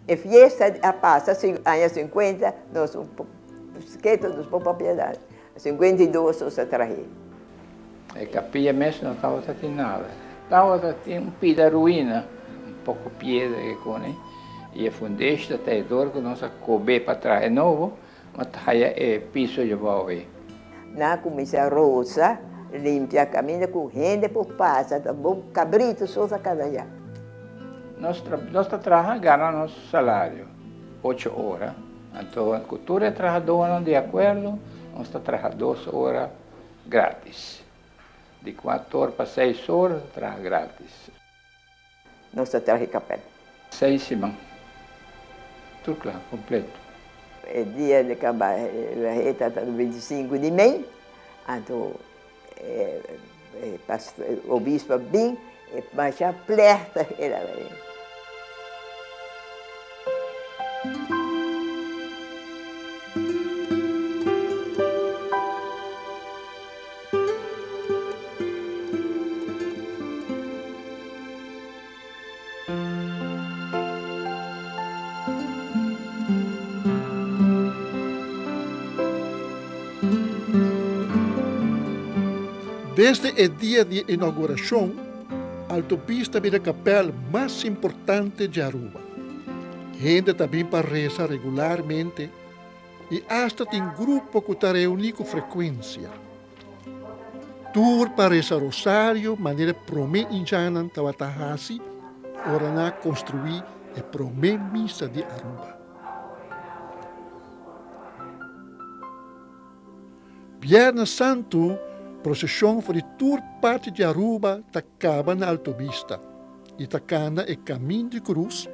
E fiesta a pasa aña sinkuenta nos un po ketu nos por propiedad sinkuenta i dos nos a trahe. E kapia mes no tabata tin nada tabata tin un pida ruina un poko piedra kikuni i e fundeshta ta e dor ku nos a kobe pa trahe nobo. M'a ta haya e piso yobao ei. N'a cuminsa rosa, limpia caminda cu hende por pasa, ta bo cabrito so ta cada ya. Nos tra, nos ta traha gana nos salario, ocho ora, anto cu tur e trahadonan di acuerdo, nos ta traha dos ora gratis, di cuator pa seis ora ta traha gratis. Nos ta traha e kapèl. Seis siman. Tur kla, kompleto. E dia di kaba Rehei ta tata binti sinku di mei. Anto e obispo a bin, e masha plèhta e lavarin. Desde e dia di e inaugurashon, Altopista a bin e kapèl mas importante dje Aruba. Hende ta bin pa resa regularmente. I asta tin grupo ku ta reuní ku frekuensia tur pa resa rosario manera e promé indjanan tabata hasi ora nan a konstruí e promé misa di Aruba. Bièrnè Santu proseshon for di tur parti di Aruba ta kaba na Alto Bista i ta kana e Kamin di Krus,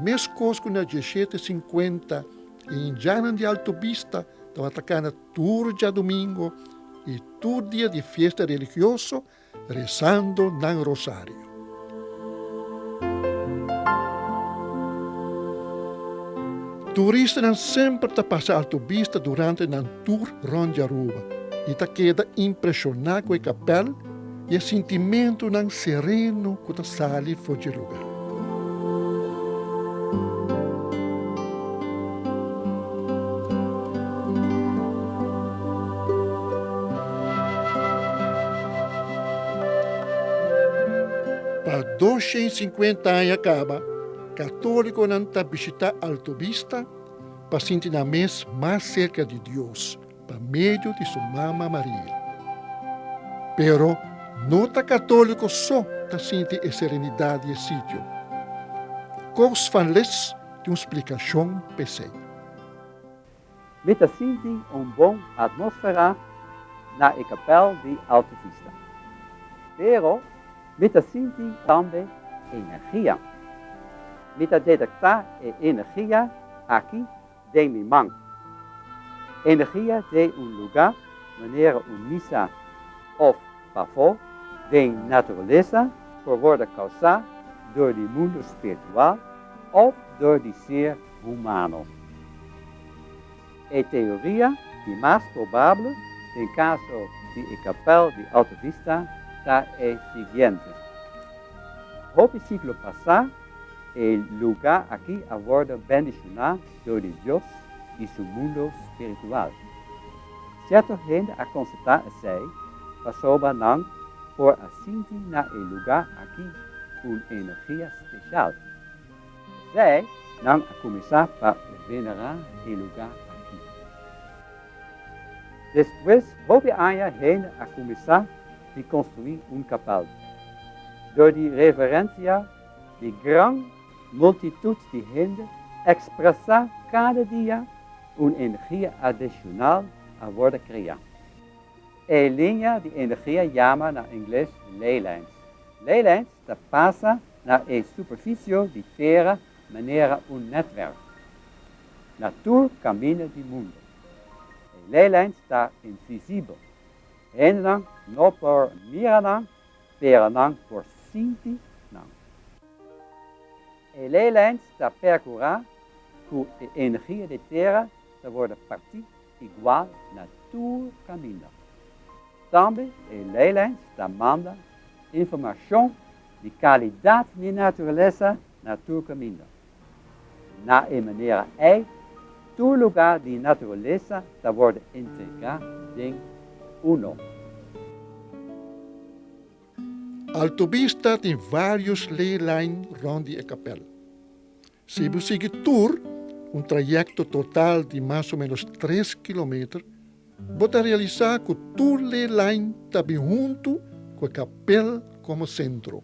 meskos ku na diesshete sinkuenta, Indianan di Alto Bista tabata cana tur djadumingo y tur dia di fiesta religioso rezando nan rosario. Turistanan semper ta pasa Alto Bista durante nan tur rond di Aruba y ta keda impresiona cu e capel, i e sintimentunan sereno ku ta sali for dje luga. Pa doshe i sinkuenta aña kaba, katolikonan ta bishitá Alto Vista pa sinti nan mes mas serka di Dios pa medio di su mama Maria. Pero no ta católico so ta sinti e serenidad di e sitio. Koos van Lith tin un splicacion p'esei. Mi ta sinti un bon atmosfera na e kapèl di Alta Vista. Pero mi ta sinti tambe energia. Mi ta detektá e energia aki den mi man. Energia den un lugá manera un misa òf pafó den naturalesa por wòrdu kausá dor di mundu spiritual òf dor di ser humano. E teoria di mas probable den kaso di e kapèl di Alta Vista ta e siguiente, Hopi siglo pasá E lugá akí a wòrdu bendishoná dor di Dios i su mundu spiritual. Sierto hende a konstatá esei pasobra nan por a sinti na e lugá akí un energia speshal. P'esei nan a kuminsá pa venerá e lugá akí. Despues hopi aña hende a kuminsá di konstruí un kapèl. Dor di reverensia di gran multitut di hende ekspresá kada dia un energia adishonal a wòrdu kreá. E liña di energia yama na ingles leylands. Leylands ta pasa na e superfisio di tera manera un nètwerk na tur kaminda di mundu. E leylands ta invisibel. Hendenan no por mira nan, pero nan por sinti nan. E leylands ta percura cu e energia di e tera ta wordo parti igual na tur caminda. Tambe e leylands ta manda informacion di calidad di naturalesa na tur caminda. Na e manera ei, tur lugá di naturalesa ta wòrdu entregá den uno. Altobista tin vários leelijn rònt di e kapèl. Si bo sigui tur, un trayèkto total di mas o ménos tres kilometer, bo ta realisá ku tur leelijn ta bin huntu ku e kapèl komo sentro.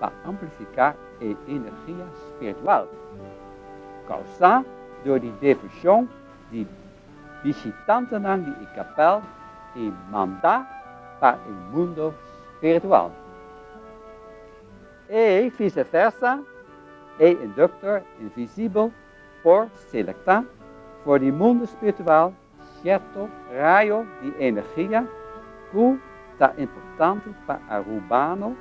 pa amplifiká e energia spiritual kausá dor di devoshon di bishitantenan di e kapèl i mandá pa e mundo spiritual. E vice versa, e induktor invisibel por selektá for di mundo spiritual Sierto rayo di energia cu ta importante pa Arubano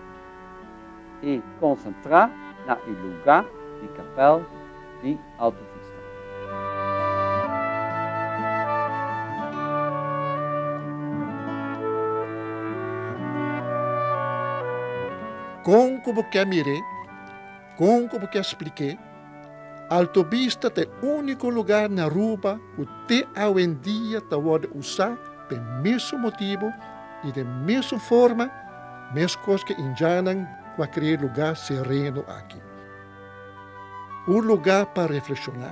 e concentra na e luga di capel di Alto Vista. Con cu bo ke mir'é? Kon ku bo ke splik'é? Alto Vista ta e úniko lugá na Aruba ku te awendia ta wòrdu usá pa e mesun motibu i den mesun forma meskos ku e indianan ku a kreá e lugá sereno aki. Un lugá pa reflekshoná.